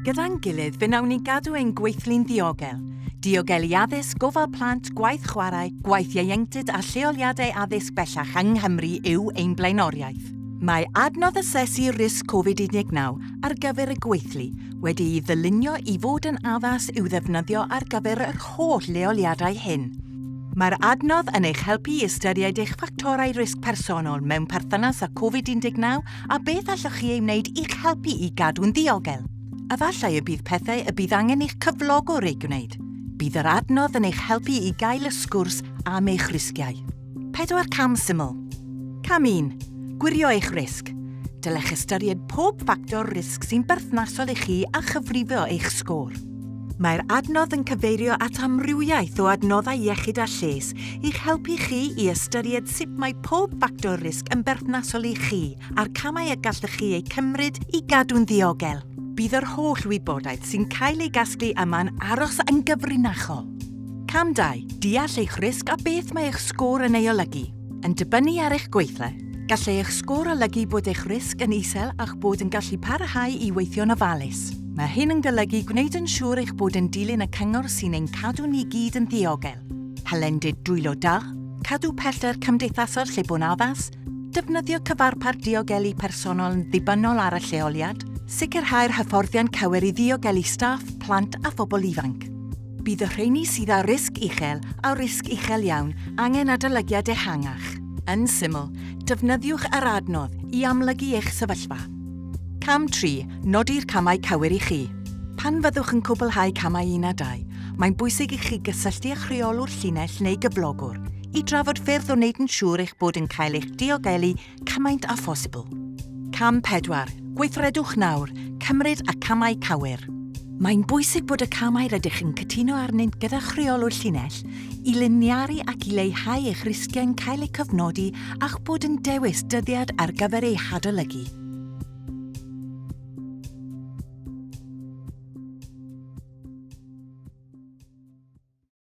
Gyda'n gilydd fe wnawn ni gadw ein gweithlu'n ddiogel. Diogelu addysg, gofal plant, gwaith chwarae, gwaith ieuenctid a lleoliadau addysg bellach yng Nghymru yw ein blaenoriaeth. Mae adnodd asesu risg Covid-19 ar gyfer y gweithlu wedi'i ddylunio i fod yn addas i'w ddefnyddio ar gyfer yr holl leoliadau hyn. Mae'r adnodd yn eich helpu i ystyried eich ffactorau risg personol mewn perthynas â Covid-19 a beth allwch chi ei wneud i'ch helpu i gadw'n ddiogel? Efallai y bydd pethau y bydd angen i'ch cyflogwr eu gwneud. Bydd yr adnodd yn eich helpu i gael y sgwrs am eich risgiau. Pedwar cam syml. Cam 1. Gwirio eich risg. Dylech ystyried pob ffactor risg sy'n berthnasol i chi a chyfrifo eich sgôr. Mae'r adnodd yn cyfeirio at amrywiaeth o adnoddau iechyd a lles i'ch helpu chi i ystyried sut mae pob ffactor risg yn berthnasol i chi a'r camau y gallwch chi eu cymryd i gadw'n ddiogel. Bydd yr holl wybodaeth sy'n cael ei gasglu yma'n aros yn gyfrinachol. Cam 2, Deall eich risg a beth mae eich sgôr yn ei olygu. Yn dibynnu ar eich gweithle, gallai eich sgôr olygu bod eich risg yn isel a'ch bod yn gallu parhau i weithio'n ofalus. Mae hyn yn golygu gwneud yn siŵr eich bod yn dilyn y cyngor sy'n ein cadw ni gyd yn ddiogel, hylendid dwylo da, cadw pellter cymdeithasol lle bo'n addas, defnyddio cyfarpar diogelu personol yn ddibynnol ar y lleoliad, sicrhau'r hyfforddiant cywir i ddiogelu staff, plant a phobl ifanc. Bydd y rheini sydd â risg uchel a risg uchel iawn angen adolygiad ehangach. Yn syml, defnyddiwch yr adnodd i amlygu eich sefyllfa. Cam 3, Nodi'r camau cywir i chi. Pan fyddwch yn cwblhau camau 1 a 2, mae'n bwysig i chi gysylltu â'ch rheolwr llinell neu gyflogwr i drafod ffyrdd o wneud yn siŵr eich bod yn cael eich diogelu Cymaint â phosibl. Cam 4, Gweithredwch nawr, cymryd y camau cywir. Mae'n bwysig bod y camau rydych yn cytuno arnynt gyda chreolwr llinell i liniaru ac i leihau eich risgiau'n cael eu cofnodi a'ch bod yn dewis dyddiad ar gyfer eu hadolygu.